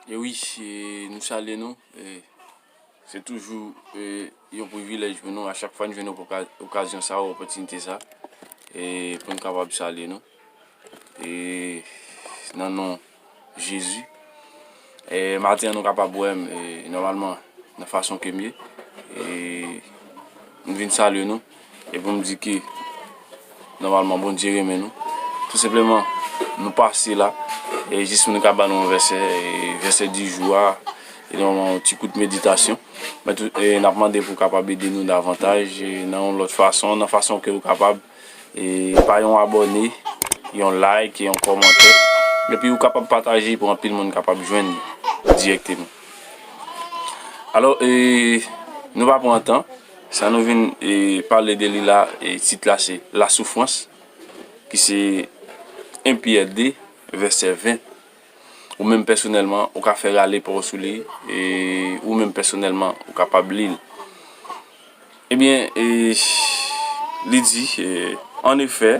E wi e nou salye nou e se toujou e yon privilèj pou nou a chak fwa nou jwenn oka okazyon sa a opòtinite sa a e pou nou kapab salye nou e nan non Jezi e maten an nou kapab wè m e nòmalman nan fason ke m ye e m vin salye nou. E pou m di ke nòmalman Bondye renmen nou. Tou senpleman nou pase la e jis pou nou ka ba nou yon vèsè e vèsè di jou a e nou yon ti kout meditasyon. Men tou e n ap mande pou w kapab ede nou davantaj e nan yon lòt fason, nan fason ke ou kapab e pa yon abòne, yon like, yon kòmantè. Epi ou kapab pataje pou anpil moun kapab jwenn li dirèkteman. Alò e nou pa pran tan. Sa nou vin pale de li la, tit la se La Soufrans, ki se 1 Pyè 2, vèsè 20. Ou menm pèsonèlman, ou ka fè rale pa w sou li, e ou menm pèsonèlman, ou kapab li l. Ebyen, li di, An efè.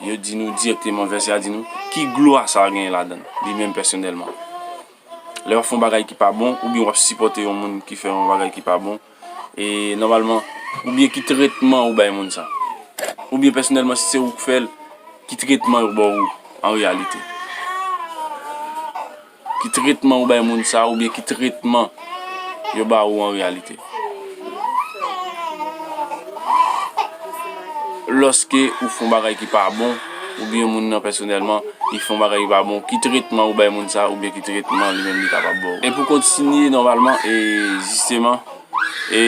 Yo di nou dirèkteman, vèsè a di nou, ki glwa sa genyen ladan l, li menm pèsonèlman. Lè w ap fè yon bagay ki pa bon, oubyen w ap sipòte yon moun ki fè yon bagay ki pa bon, e nòmalman, oubyen ki tretman ou bay moun sa? Oubyen pèsonèlman si se ou k fè l, ki tretman yo ba w an reyalite? Ki tretman ou bay moun sa oubyen ki tretman yo ba ou an reyalite? Lòske ou fon bagay ki pa bon oubyen moun nan pèsonèlman li fon bagay ki pa bon, ki tretman ou bay moun sa oubyen ki tretman li menm li kapab ba ou? E pou kontinye nòmalman e jisteman e.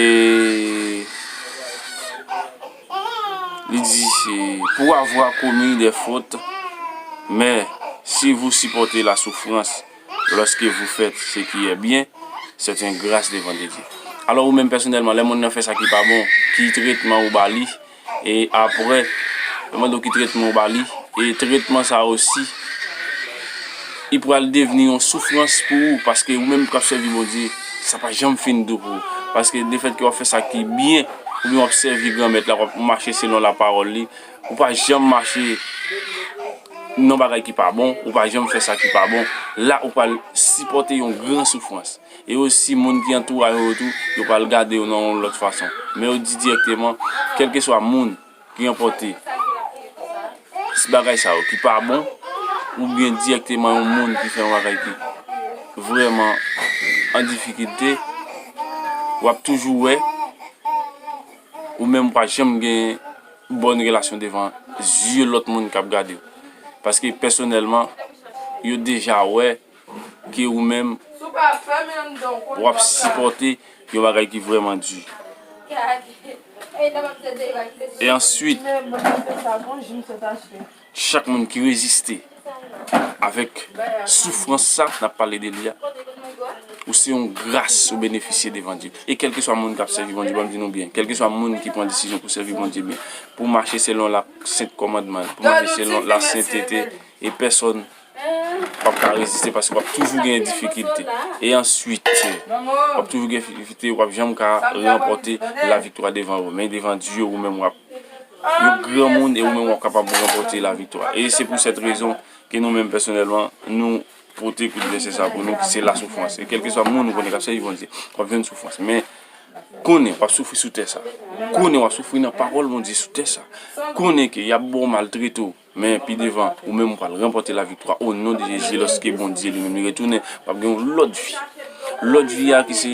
Li di, Pour avoir commis des fautes, mais si vous supportez la souffrance lorsque vous faites ce qui est bien, c'est une grâce devant de Dieu. Alò ou menm pèsonèlman, lè moun nan fè sa ki pa bon, ki tretman ou ba li? E apre, yo mande w ki tretman ou ba li, e tretman sa a osi, li pral devni yon soufrans pou ou, paske ou menm k ap sèvi Bondye, sa pa janm fin dou pou ou, paske lefètke w ap fè sa ki byen. oubyen w ap sèvi Granmèt la, w ap mache selon lapawòl li, ou pa janm mache nan bagay ki pa bon, ou pa janm fè sa ki pa bon, la ou pral sipòte yon gran soufrans. E osi, moun ki antouraje w yo tou, yo pral gade w nan yon lòt fason. Men yo di dirèkteman, kèlkeswa moun. ki enpòte bagay sa yo ki pa bon oubyen dirèkteman yon moun ki fè yon bagay ki vrèman an difikilte, w ap toujou wè ou menm ou pa janm gen bòn relasyon devan zye lòt moun k ap gade w. Paske pèsonèlman, yo deja wè. ke ou menm w ap sipòte yon bagay ki vrèman di. E answit, chak moun ki reziste avèk soufrans sa n ap pale de li a, ou se yon gras ou benefisye devan Dye. E kèlkeswa moun k ap sèvi Bondye, ban m di nou byen, kèlkeswa moun ki pran desizyon pou sèvi Bondye byen, pou mache selon lasent kòmandman l, pou mache selon lasentete, e pèsòn W ap ka reziste paske w ap toujou gen difikilte. E answit, w ap toujou gen difikilte, w ap janm ka ranpòte laviktwa devan ou. Men devan Dye, ou menm w ap yon granmoun e ou menm w ap kapab ranpòte laviktwa. E se pou sèt rezon ke nou menm pèsonèlman, nou pote kout vèsè sa pou nou ki se lasoufrans. E kèlkeswa moun ou konnen k ap sèvi Bondye, w ap jwenn soufrans. Men, konnen w ap soufri sou tè sa. Konnen w ap soufri nan pawòl Bondye sou tè sa. Konnen ke y ap ba w maltrete w. Men pi devan, ou menm ou pral ranpòte laviktwa o non de Jezi lòske Bondye li menm li retounen, w ap gen yon lòt vi. Lòt vi a ki se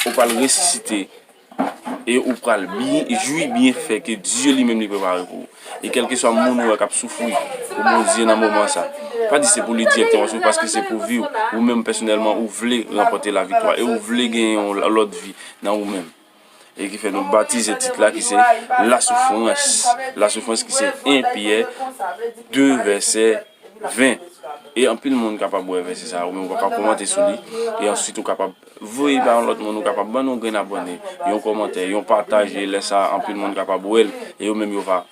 ou pral resisite e ou pral jwi byenfè ke Dye li menm li prepare pou ou. E kèlkeswa moun ou wè k ap soufri pou Bondye nan moman sa, pa di se pou li dirèkteman soufri paske se pou vi w, ou menm pèsonèlman ou vle ranpòte laviktwa e ou vle gen yon lòt vi nan ou menm. e ki fè nou batize tit la ki se la soufrans la soufrans ki se 1 Pyè 2 vèsè 20 e anpil moun kapab wè vèsè sa ou menm ou kapab kòmante sou li e ansuit ou kapab voye ba yon lòt moun ou kapab ban nou grenn abòne yon kòmantè yon pataje lè sa anpil moun kapab wèl e yo menm yo va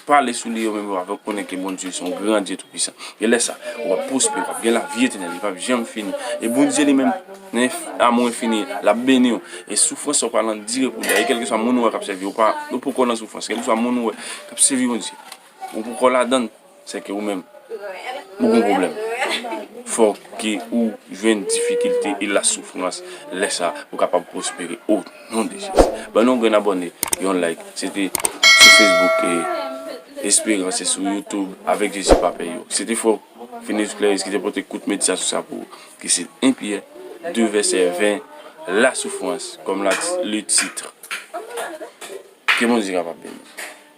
Pale sou li yo menm yo ap rekonnen ke Bondye se yon gran Dye toupisan. E lè sa, w ap pwospere, w ap gen lavi etènèl, li pap janm fini. E Bondye li menm, nan amou enfini l, l ap beni w. E soufrans sa w pral andire pou li a. E kèlkeswa moun ou wè k ap sèvi, ou poko nan soufrans, kèlkeswa moun ou wè k ap sèvi Bondye, ou poko ladan l. Se ke ou menm ou gen pwoblèm. Fò ke ou jwenn difikilte e la soufrans. Lè sa ou kapab pwospere o non de Jezi. Ban nou yon grenn abòne, yon like. Se te sou Facebook e Esperans e sou YouTube Avèk Jezi pa pè yo. Se te frè ou Finis Clairis ki te pote kout meditasyon sa pou ou. Ki se 1 Pyè 2 vèsè 20 la soufrans kòm le titre. Ke Bondye kapab beni nou.